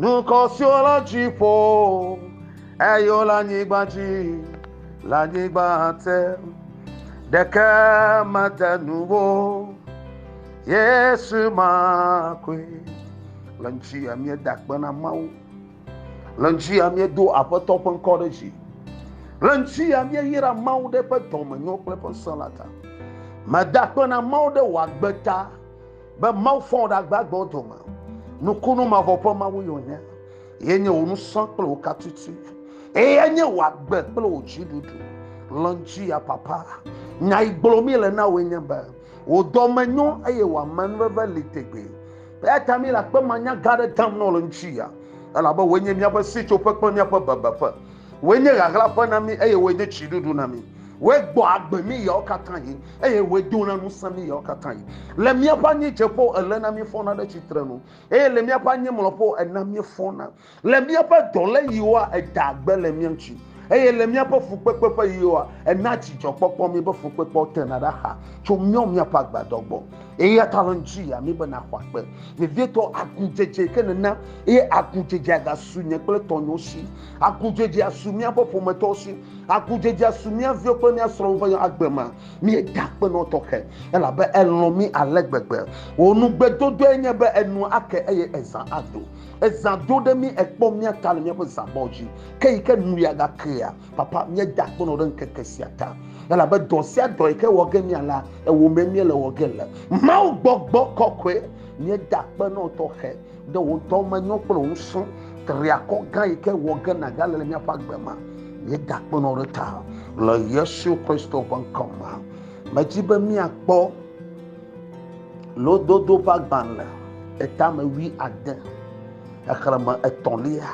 Dukɔ siwo le dziƒo eye wole anyigba dzi le anyigba te ɖeke mede nu wo yesu ma koe le ŋutsi ya míeda akpe na mawu le ŋutsi ya míedo aƒetɔ ƒe ŋkɔ ɖe dzi le ŋutsi ya míeyra mawu ɖe ƒe dɔmenyo kple ƒe ŋusẽ la ta meda akpe na mawu ɖe wòagbe ta Be Mawu fɔ wò ɖe agbagbewo dome. Nukunu mavɔ ƒe Mawu ye wònye. Ye nye wò nusɔ kple wò katiti. Eye nye wò agbe kple wò dziɖuɖu. Lɔ̃ dzia papa. Nya yi gblɔ mi le na wòe nye be, wò dɔme nyo eye wò amenuveve li tegbee. Eya ta mi le akpemanya gã aɖe dam nɔ le ŋuti ya, elabe wòe nye míaƒe sitsoƒe kple míaƒe bebeƒe. Wòe nye ɣaɣlaƒe na mí eye wòe nye tsiɖuɖu na mí. Wòe gbɔ agbe mí ɣeawo katã ɣi eye wòe dona ŋusẽ mí ɣeawo katã ɣi. Le míaƒe anyidzedzeƒewo elena míefɔna ɖe tsitrenu eye le míaƒe anyimlɔƒewo ena míefɔna. Le míaƒe dɔléɣiwoa edaa gbe le mía ŋuti eye le míaƒe fukpekpe ƒe ɣiwoa enaa dzidzɔkpɔkpɔ mí. Be fukpekpeawo tena ɖe axa tso míawo míaƒe agbadɔ gbɔ eyata le ŋuti ya mí be naxɔ akpe vevietɔ agudzedze ke nena eye agudzedzea gasu nye kple tɔnyewo si. Agudzedze asu míaƒe ƒometɔwo si. Agudzedze asu mía viwo kple mía srɔ̃wo ƒe agbe me. Míeda akpe nɔ tɔxɛ, elabe elɔ̃ mí ale gbegbe. Wò nugbedodoae nye be enu ake eye ezã ado. Ezã do ɖe mí, èkpɔ mía ta le míaƒe zãbɔ dzi. Ke yi ke nuya gakea, Papa, míeda akpe nɔ wò ɖe ŋkeke sia ta, elabe dɔ sia dɔ yi ke wɔ ge mía la, ewòmee míele wɔ ge le. Mawu gbɔgbɔ kɔkɔe, míeda akpe nɔ wò tɔxɛ. Ɖe wò dɔ menyo kple wò ŋusẽ triakɔ gã yi ke wɔ ge nàgale le míaƒe agbe me. Míedakpenɔ ɖe ta le Yesu Kristo ƒe ŋkɔ me. Medi be míakpɔ lododo ƒe agbalẽ etame wui ade, xexlẽme etɔ̃lia,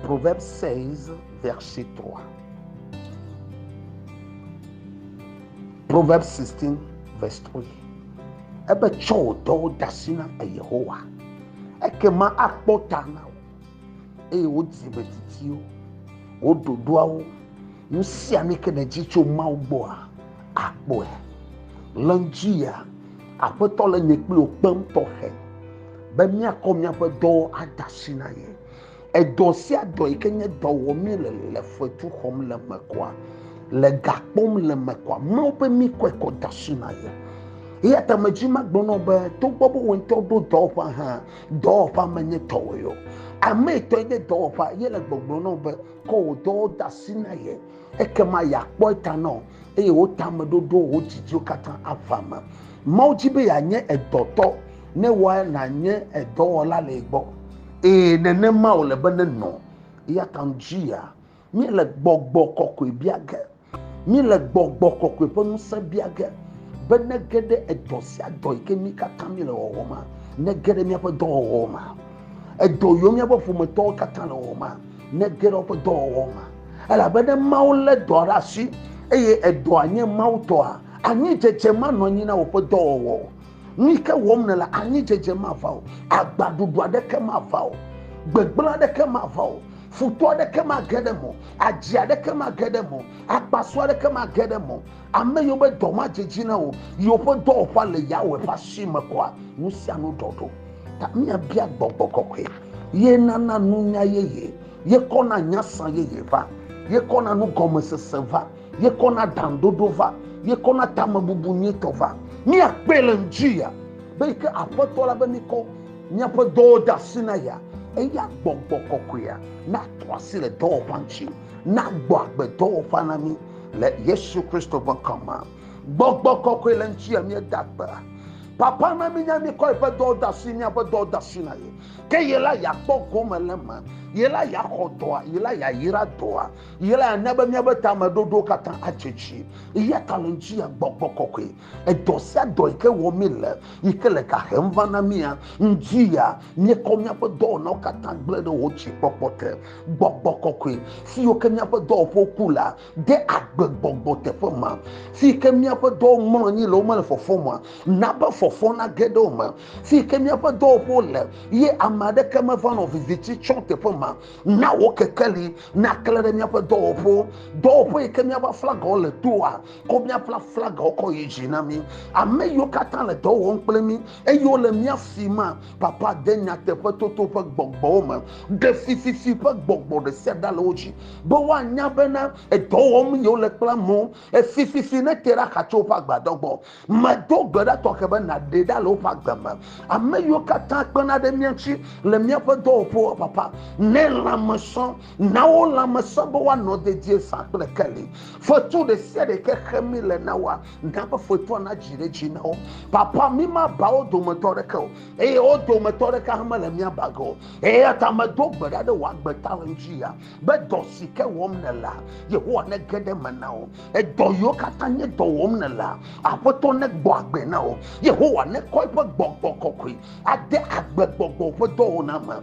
Proverbes 16, verset 3. Proverbs 16 verse 3 ebe tsɔ wò dɔwo de asi na Yehowa ekema akpɔ ta na wò eye wò dzime titiwo wò ɖoɖoawo nu sia nu ke nèdzi tso Mawu gbɔa akpɔe le ŋdi ya aƒetɔ le nye kpli wò kpem tɔxɛ be míakɔ míaƒe dɔwo ada asi na ye Edɔ sia dɔ yi ke nye dɔ wɔm míele le fetu xɔm le me kɔa, le ga kpɔm le me kɔa, Mawu be míkɔe kɔ de asi na ye. Eya ta medzi magblɔ na be togbɔ be wò ŋutɔ ɖo dɔwɔƒea hã, dɔwɔƒea menye tɔwòe o. Ame etɔe nye dɔwɔƒea ye le gbɔgblɔ na wò be kɔ wò dɔwo de asi na ye ekema yeakpɔ eta na wò eye wò tameɖoɖowo, wò didiwo katã ava eme. Mawu di be yeanye edɔtɔ. Ne wɔ nànye edɔwɔla le gbɔ. Ee, nenema wòle be nenɔ. Eya ta ŋdzia, míele gbɔgbɔ kɔkɔe bia ge. Míele gbɔgbɔ kɔkɔe ƒe ŋusẽ bia ge be nege ɖe edɔ sia dɔ yi ke mí katã míele wɔwɔ ma, nege ɖe míaƒe dɔwɔwɔ ma. Edɔ yiwo míaƒe ƒometɔwo katã le wɔwɔ ma, nege ɖe woƒe dɔwɔwɔ ma. Elabe ne Mawu lé dɔa ɖe asi eye edɔa nye Mawu tɔa, anyi dzedzemanɔanyi na wòƒe dɔwɔwɔ. Nu yi ke wɔm nèle, anyidzedze mava o, agbaɖuɖu aɖeke mava o, gbegblẽ aɖeke mava o, futɔ aɖeke mage ɖe eme o, adzi aɖeke mage ɖe eme o, akpasu aɖeke mage ɖe eme o. Ame yiwo be dɔ madze dzi na wò, yiwo ƒe dɔwɔƒea le Yahweh ƒe asi me kɔa, nu sia nu ɖɔɖo. Ta míabia gbɔgbɔ kɔkɔe, ye nana nunya yeye, ye kɔna nyasã yeye va, ye kɔna nugɔmesese va. ye kɔna dandodo va ye kɔna tamebubu nyuitɔ va míakpee le ŋdi ya be yi ke aƒetɔ la be mikɔ míaƒe dɔwo de asi na ya eya gbɔgbɔ kɔkɔea natɔ asi le dɔwɔƒea ŋuti nagbɔ agbe dɔwɔƒea na mí le yesu kristo ƒe ŋkɔ me gbɔgbɔ kɔkɔe le ŋuti ya míeda gbe papa na mínya míkɔ yeƒe dɔwo de asi míaƒe dɔwo de asi na ye ke ye la yeakpɔ gome le me ye la yeaxɔ dɔa ye la yeayra dɔa Yele ana be míaƒe tameɖoɖowo katã atse tsi. Eya ta le ŋuti ya gbɔgbɔ kɔkɔe. Edɔ sia dɔ yi ke wɔm míele, yi ke le ga hem va na mía, ŋuti ya míekɔ míaƒe dɔwɔnawo katã gblẽ ɖe wò dzikpɔkpɔ te. Gbɔgbɔ kɔkɔe, fiyiwo ke míaƒe dɔwɔƒewo ku la, de agbe gbɔgbɔ teƒe ma. Fiyi ke míaƒe dɔwo mlɔ anyi le womele fɔfɔm oa, na be fɔfɔ nage ɖe wo me. Fiyi ke míaƒe dɔwɔƒewo le ye ame aɖeke meva nɔ viviti tsɔm teƒe ma. na wò kekeli naklẽ ɖe míaƒe dɔwɔƒewo dɔwɔƒe yi ke míaƒe aflagawo le doa kɔ míaƒe aflagawo kɔ yi dzi na mí ame yiwo katã le dɔ wɔm kple mí eye wole mía si ma papa de nyateƒetoto ƒe gbɔgbɔwo me ɖe fififi ƒe gbɔgbɔ ɖe sia ɖa le wo dzi be woanya bena edɔ wɔm yewole kple amewo efififi nete ɖe axa tso woƒe agbadɔ gbɔ Medo gbe ɖa tɔxɛ be nàɖee ɖa le woƒe agbe me. Ame yiwo katã kpena ɖe mía ŋuti le míaƒe dɔwɔƒewo, Papa, nɛ lãme sɔ, na wo lãme sɔ be woanɔ dedie zã kple keli. Fetu ɖe sia ɖe yi ke xe mí le na woa, na be fetua nadzi ɖe edzi na wo. Papa, mímaba wo dometɔ aɖeke o, eye wo dometɔ aɖeke hã mele mía ba ge o. Eya ta medo gbe ɖa ɖe wò agbe ta ɣeyiɣiɣia be dɔ si ke wɔm nèlea, Yehowa, nege ɖe eme na wo. edɔ yiwo katã nye dɔ wɔm nèlea aƒetɔ negbɔ agbe na wò yehowa nekɔ eƒe gbɔgbɔ kɔkɔe ade agbe gbɔgbɔ ƒe dɔwɔna me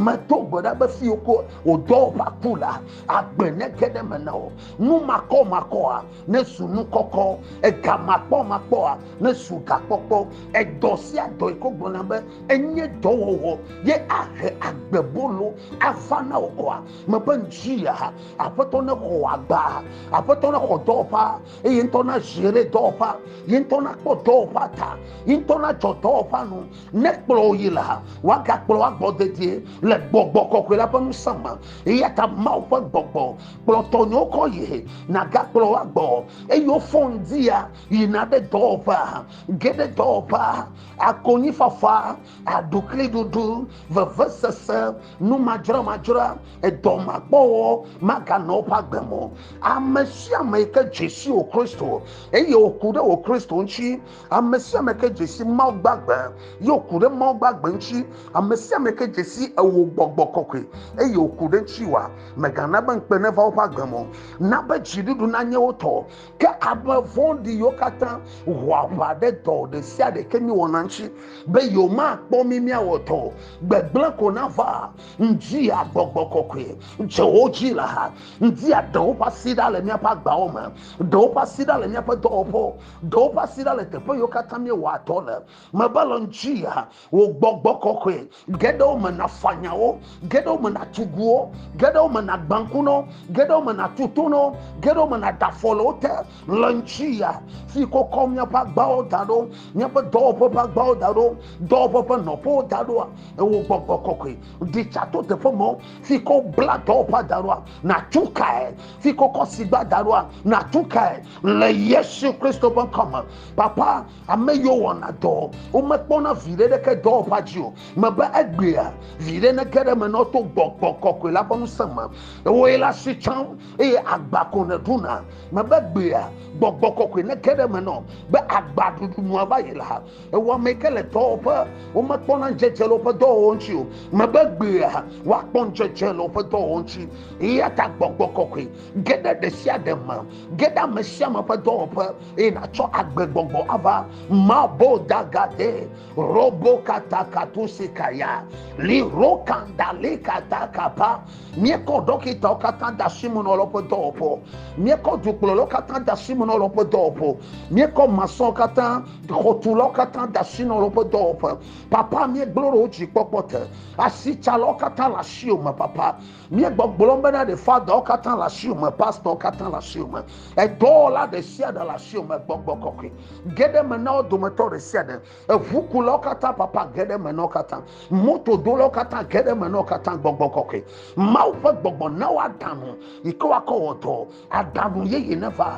medo gbe ɖa be fiwo ko wòdɔ ƒa ku la agbe nege ɖe me na wò nu makɔmakɔa nesu nu kɔkɔ ega makpɔmakpɔa nesu gakpɔkpɔ edɔ sia dɔ yi ko gblɔna be enye dɔwɔwɔ ye ahe agbebolo ava na wò kɔa Mebe ŋtsia, Aƒetɔ ne xɔ agba, Aƒetɔ ne xɔ dɔwɔƒa, eye ŋtɔ na zere dɔwɔƒa, ye ŋtɔ na kpɔ dɔwɔƒa ta, ye ŋtɔ na dzɔ dɔwɔƒa nu, ne kplɔ yi la, waga kplɔ wa gbɔ dedie le gbɔgbɔ kɔkɔe la ƒe ŋusẽ me. Eya ta Mawu ƒe gbɔgbɔ kplɔ tɔnyewo kɔ yi, na ga kplɔ wa gbɔ, eye wofɔ ŋdia yina ɖe dɔwɔƒea, ge ɖe dɔwɔƒea, akonyi fafa aɖukliɖuɖu, vevesese, numadzramadzra, edɔmakpɔwɔ maganɔ woƒe agbe me o. Ame sia ame yi ke dze si wò Kristo eye wòku ɖe wò Kristo ŋuti, ame sia ame ke dze si Mawu gbagbe eye wòku ɖe Mawu gbagbe ŋuti, ame sia ame ke dze si ewò gbɔgbɔ kɔkɔe eye wòku ɖe ŋuti wa, mègana be ŋukpe neva woƒe agbe me o. Na be dziɖuɖu nanye wo tɔ, Ke ame vɔ̃ɖi yiwo katã ho aʋa ɖe dɔ ɖe sia ɖe ke míewɔna ŋuti be yewomakpɔ mí míawɔ dɔ o. Gbegblẽ ko nava ŋdi agbɔgbɔ kɔkɔe dze wo dzi le ha ŋdi aɖe woƒe asi ɖa le míaƒe agbawo me, ɖe woƒe asi ɖa le míaƒe dɔwɔƒewo, ɖe woƒe asi ɖa le teƒe yiwo katã míewɔa dɔ le. Mebe le ŋdi wò gbɔgbɔ kɔkɔe ge ɖe wo me nàfa nyawo, ge ɖe wo me nàtu guwo, ge ɖe wo me nàgbã ŋku na wo, ge ɖe wo me nàtu to na wo, ge ɖe wo me nàda afɔ le wo te le ŋutsiɣia si ke wokɔ míaƒe agbawo da ɖo, míaƒe dɔwɔƒe ƒe agbawo da ɖo, dɔwɔƒe ƒe nɔƒewo da ɖoa, ewò gbɔgbɔ kɔkɔe ɖi tsa to teƒe mawo si ke wobla dɔwɔƒea da ɖoa, nàtu kae, si ke wokɔ sigba da ɖoa, nàtu kae le Yesu Kristo ƒe ŋkɔ me. Papa, Ame yiwo wɔna dɔ, womekpɔna viɖe ɖeke dɔwɔƒea dzi o. Mebe egbea, viɖe nege ɖe eme ne woto gbɔgbɔ kɔkɔe la ƒe ŋusẽ me. Wòe le asi tsam eye agba ko nèɖuna. Mebe egbea, gbɔgbɔ kɔkɔe nege ɖe eme nɔ be agbaɖuɖu nua va yi la, wò ame yi ke le dɔwɔƒe, womekpɔna ŋudzedze le woƒe dɔwɔwɔ ŋuti o. Mebe egbea, woakpɔ ŋudzedze le woƒe dɔwɔwɔ ŋuti. Eyata gbɔgbɔ kɔkɔe ge ɖe ɖe sia ɖe me, ge ɖe ame sia ame ƒe dɔwɔƒe. eye nàtsɔ agbegbɔgbɔ ava mabo dagade robo katakato sikaya li rokanda li katakapa míekɔ ɖɔkitawo katã da si mu na lɔ ƒe dɔwɔƒewo míekɔ dukplɔlawo katã da si mu na lɔ ƒe dɔwɔƒewo míekɔ masɔn katã xɔtulawo katã da si na lɔ ƒe dɔwɔƒe papa míegblɔ ɖe wo dzi kpɔkpɔ te asitsalɔwo katã le asiwo me papa Míegbɔgblɔm bena ɖe fadawo katã le asiwò me, pastor katã le asiwò me, edɔwɔla ɖe sia ɖe le asiwò me, gbɔgbɔ kɔkɔe geɖe me na wo dometɔ ɖe sia ɖe, eʋukulawo katã papa geɖe me na wo katã, motodolawo katã geɖe me na wo katã, gbɔgbɔ kɔkɔe, Mawu ƒe gbɔgbɔ na woaɖanu yi ke woakɔ wɔ dɔ, Aɖaŋu yeye neva,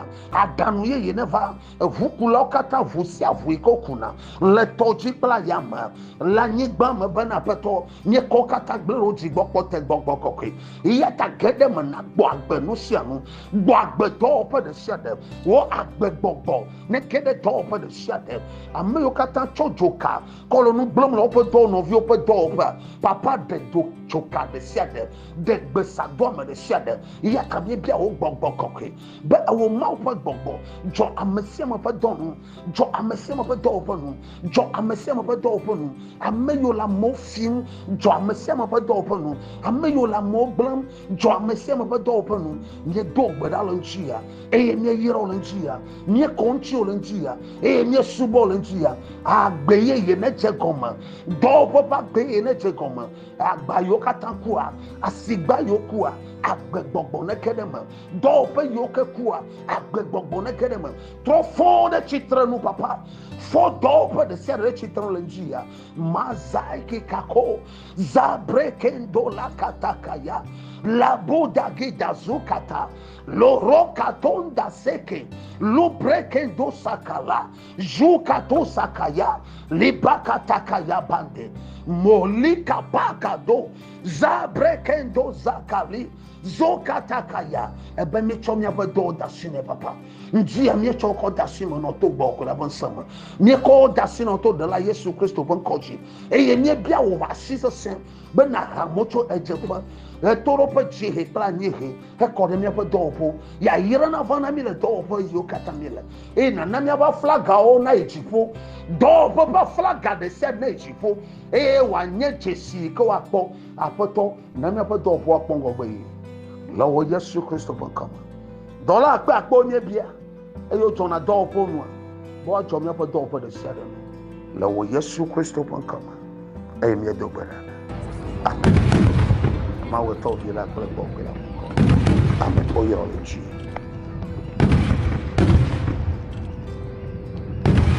aɖaŋu yeye neva. Eŋukulawo katã ʋu sia ʋu yi ke wokuna le tɔ dzi kple ayame le anyigba me bena aƒetɔ míekɔ wo katã gblẽ ɖe wo dzi gbɔ kpɔ te gbɔgbɔ kɔkɔe. Eya ta ge ɖe me na gbɔ agbe nu sia nu, gbɔ agbe dɔwɔƒe ɖe sia ɖe, wo agbe gbɔgbɔ ne ge ɖe dɔwɔƒe ɖe sia ɖe. Ame yiwo katã tsɔ dzoka kɔ le nu gblẽm le woƒe dɔwɔnɔviwo ƒe dɔwɔƒea, Papa ɖe dzoka ɖe sia ɖe ɖe gbe sa do ame ɖe sia ɖe. Eya ta míebia wò gbɔgbɔ kɔkɔe be ewò Mawu ƒe gbɔgbɔ dzɔ ame sia ame ƒe dɔ nu, dzɔ ame sia ame ƒe dɔwo ƒe nu, dzɔ ame sia ame ƒe dɔwo ƒe nu, ame yiwo le amewo fim, dzɔ ame sia ame ƒe dɔwo ƒe nu, ame yiwo le amewo gblẽm, dzɔ ame sia ame ƒe dɔwo ƒe nu. Míedo gbe ɖa le ŋuti ya eye míeyra wo le ŋuti ya, míekɔ ŋuti wo le ŋuti ya eye míesubɔ wo le ŋuti ya. Agbe yeye nedze gɔme, dɔwɔƒe ƒe agbe yeye nedze gɔme. Agba yiwo katã kua, asigba yiwo kua, agbegbɔgbɔ neke ɖe me. Dɔwɔƒe yiwo ke kua, agbegbɔgbɔ neke ɖe me. Trɔ fɔ ɖe tsitre nu, papa. Fɔ dɔwɔƒe ɖe sia ɖe tsitre nu le ŋdi ya. Mazai kikako, zabre kendo la katakaya, labo dagi dazu kata, loro katonda seke, lubre kendo sakala. Jukato sakaya, libakatakaya bande, molika pakado, zabrekendo zakali, zokatakaya. Ebe mi tsɔ miaƒe dɔwo da asi nɛ papa. Ŋdi ya mi tsɔ kɔ da asi me nɔ to gbɔ kula ƒe ŋsẽ me. Mi kɔ da asi nɔ to ɖela Yesu Kristo ƒe ŋkɔ dzi. Eye mi bia wò asi sese be nàha mo tso ɣedzeƒe, ɣetoɖoƒe, dziehe kple anyiehe hekɔ ɖe míaƒe dɔwɔƒewo. Yayra nava na mí le dɔwɔƒe yiwo katã míele, eye nàna míaƒe aflagawo nayi dziƒo, dɔwɔƒe ƒe aflaga ɖe sia ɖe nayi dziƒo, eye wòanye dzesi yi ke woakpɔ. Aƒetɔ, na míaƒe dɔwɔƒewo akpɔ ŋgɔgbe ɣi, le wò Yesu Kristo ƒe ŋkɔ me. Dɔla akpe akpewo míebia. eye wodzɔna dɔwɔƒewo nua, be woadzɔ míaƒe dɔwɔƒe ɖe sia ɖe nu. Le wò Yesu Kristo ƒe ŋkɔ me, eye míedo gbe ɖa. Amen. Mawu etɔ vi la kple gbɔgbɔ la ƒe ŋkɔ. Amen. Woyɔ le dzi.